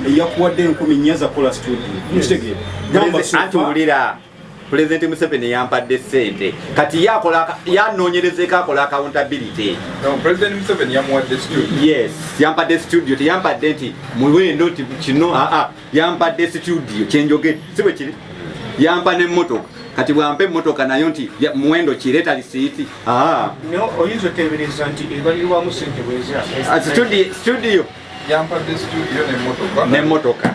eyakuwadde enkumi nnya zakola studioatwulira pulezidenti museveni yampadde sente kati yanoonyerezeko akola accountability yes yampadde studio teyampadde nti muwendo nti kino aa ah, ah. yampadde situdiyo kyenjogedde si bwe kiri yampa n'emmotoka kati bwampa emmotoka nayo nti muwendo kireeta lisiiti ah. oyinza oteebereza nti ebalirwamu sente bwezasitudiyo ah, yampadde situdiyo n'emmotoka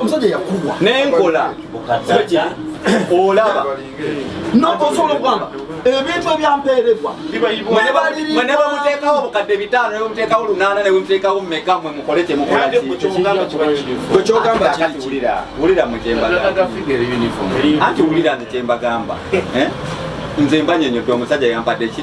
omusajja yakuwa nenkola olaba notosobola okugamba ebintu ebyampeerebwa mwe ne bamuteekawo obukadde bitaano ne bamuteekawo lunaana ne bamuteekawo meka mwe mukole kyemukolawulira mu kyembaganti wulira nze kyembagamba eh? nze mbanyonyodde omusajja yampadde ki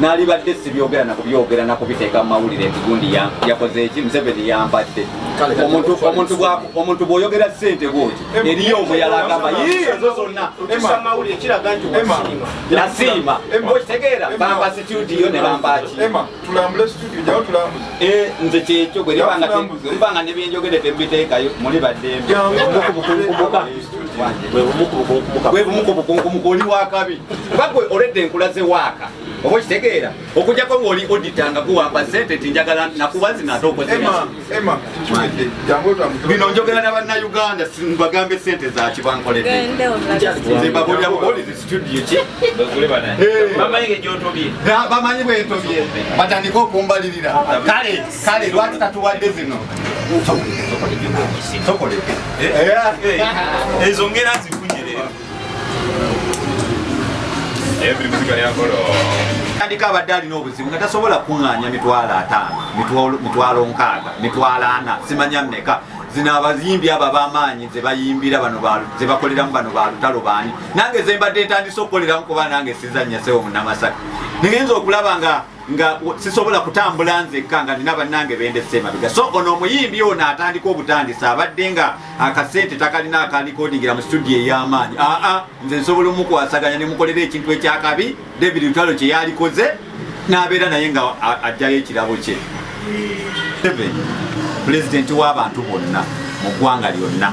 nalibadde sibyogera nakubyogera nakubiteeka mu mawulire nti gundi yakoze eki museveni yambadde omuntu bwoyogera sente bwoti eriyo omuyala agamba ezo zonna nasiima okitegeera bamba situdiyo ne bambaki eh, nze kyekyo gwe libanga nebyenjogedde tembiteekayo muli baddembe bwe bumu ku bukunkumuka oli wakabi kuba gwe oledde enkula ze waaka oba okitegeera okujjako ngaoli odita nga guwamba sente ti njagala nakuba zino ate okozebino njogera na bannayuganda bagambe sente zaki bankoleddebamanyi bwentobye batandika okumbalirira kale kale lwaki tatuwadde zino tokoleke eh? Eh, eh, ezo ngera zifunye leero tandika abadde alina obuzibu nga tasobola kuŋŋaanya mitwalo ataano mitwalo nkaaga mitwalo ana simanya mmeka zino abayimbi abo abamaanyi zebayimbira bano zebakoleramu bano balutalo baani nange zembadde ntandise okukoleramu kuba nange sizannya sewo munamasaka nigenza okulaba nga nga sisobola kutambula nzekka nga nina bannange bendese emabega so ono omuyimbi ono atandika obutandisa abadde nga akasente takalina akalikodingira mu studio ey'amaanyi aa nze nsobola omukwasaganya nemukolera ekintu ekyakabi david lutalo kye yalikoze n'abeera naye nga ajjayo ekirabo kye pulezidenti w'abantu bonna mu ggwanga lyonna